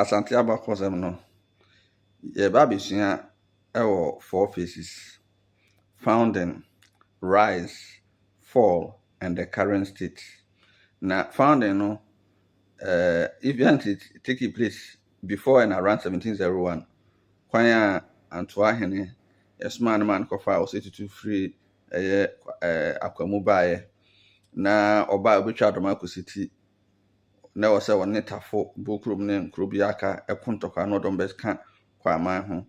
Asante abakɔsɛm no, yɛreba abɛsua wɔ four phases, founding, rise, fall and the current state. Na founding no, eh, event take place before and around 1701. Kwan a Antoa hene ɛsomaa ne ma no kɔfa a ɔsɛ tutu firi ɛyɛ eh, akwamu baeɛ na ɔbaa ɔbɛtwa adɔm akɔsi ti na ɛwɔ sɛ ɔne Tafo, Bukurom ne nkuro bi a aka ko ntɔkwa no dɔm bɛka Kwaman ho.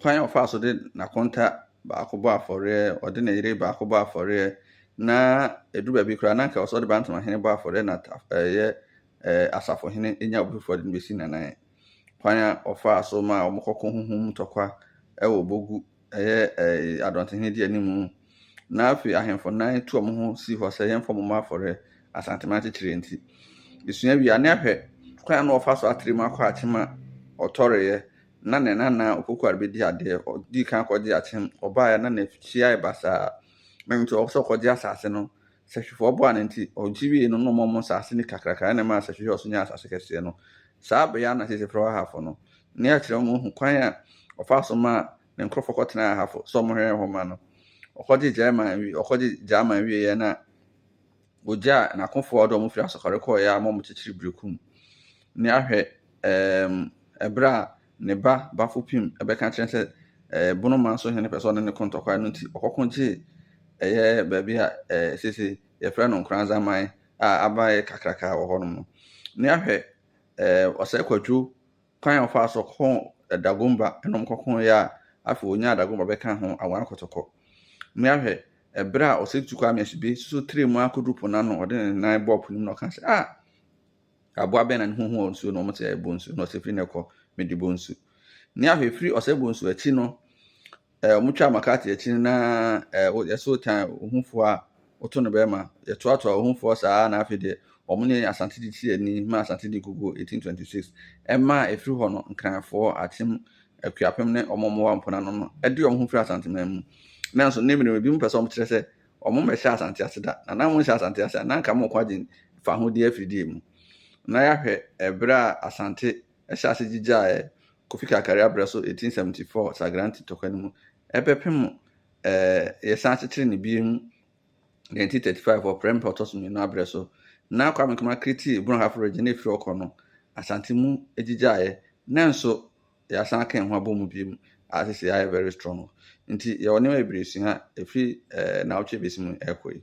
Kwan a ɔfaa so de n'akonta baako bɔɔ afɔreɛ, ɔde ne yere baako bɔɔ afɔreɛ, na ɛduru baabi koraa na anka ɛwɔ sɛ ɔde Bantamahene bɔ afɔreɛ na ta ɛyɛ ɛɛ Asafohene nya obi foforɔ de no bɛsi Nanae. Kwan a ɔfaa so maa wɔkɔko ho ho mu ntɔkwa wɔ Bogu ɛyɛ adɔntenhene di anim. Na afei ahemfo nan tu wɔn ho si hɔ sɛ yɛmfa wɔn mmɔ afɔre Asantema akyekyerɛ nti. Yɛsua wie a, na yɛahwɛ kwan a na wɔfa so atrɛ mu akɔ akyem a ɔtɔreeɛ. Na ne nana a ɔkɔkɔ a rebɛdi adeɛ, ɔdii kan kɔgyee akyem, ɔbaeɛ na n'afie ayɛ basaa. Ɛno nti ɔpɛ sɛ ɔkɔgye asase no. sɛhwɛfoɔ boaa no nti, ɔgye wiee no na ɔmaa wɔn asase no kakraka na ɛmaa sɛhwɛ hwɛɛ so nyaa asase kɛseɛ no. Saa bea na seesei frɛ hɔ Ahafo no. Ne akyerɛ mu hu kwan a ɔfaa so maa ne nkurɔfoɔ kɔtenaa Ahafo sɛ wɔhwɛ hɔ ma no. Ɔkɔgye Gyaeman wie ɔkɔgye Gyaeman wieeɛ na ɔgyaa n'akofoɔ a ɔde wɔn firi Asɔkɔre kɔeɛ a wɔn kyekyere Berekum. Ne ahwɛ ɛɛm ɛberɛ a ne ba Bafopim bɛka akyerɛ no sɛ ɛɛ Bonoman so hene pɛ sɛ ɔne no ko ntɔkwa no nti ɔkɔko gyee ɛyɛ baabi a ɛɛ sese yɛfrɛ no Nkoranzaman a aban yɛ kakraka wɔ hɔnom no. Ne ahwɛ ɛɛ ɔsɛe kwadwo kwan a ɔfaa so kɔn Dagomba ɛnom kɔko yɛ a afei ɔnyaa Dagomba bɛka ho awan kɔtɔkɔ. Ne ahwɛ ɛberɛ a ɔsɛe tu Kwame Asube suso tire mu akɔduru po n'ano ɔde ne nan bɔɔ po no mu na ɔka sɛ ah! Aboa bɛn na ne ho hu wɔ nsuo no mu te sɛ bonsu, na ɔsɛ firi na ɛkɔ mede bonsu? Ne ahwɛ firi ɔsɛ bonsu akyi no, ɛɛ wɔn twa makate akyi no na ɛɛ yɛso tan ohufoɔ a woto no bɛrima, yɛtoatoa ohufoɔ saa na afei deɛ wɔn ne asante de ti ani ma asante de gugu 1826 ɛma a ɛfiri hɔ no nkranfoɔ, atem, akuapem ne wɔn mmoa mponanonom de wɔn ho firi asanteman mu. Nanso ne mmerɛ mu ebinom pɛ sɛ wɔkyerɛ sɛ Ɔmo mmɛhyɛ Asante ase da. Na na ɔmo hyɛ Asante ase a, na anka ɔmo kɔ agye fahodie afiri deɛ mu. Na yɛahwɛ ɛberɛ a Asante hyɛ ase gyigyaeɛ Kofi Kakari aberɛ so 1874 Sagranti tɔkwa no mu ɛbɛpem ɛɛ yɛsan kyekyere no biem 1935 wɔ Prempeh ɔtɔ so mmienu aberɛ so. Na Kwame Nkrumah kriti Brong Half Region na ɛfiri hɔ kɔ no Asante mu gyigyaeɛ. Nanso yɛasan aka yɛn ho abɔ mu biom a sesei ayɛ very strong. Ntsi yɛwɔ nneɛma bebree esua fir naawɔtwe a ebesi mu rekɔ yi.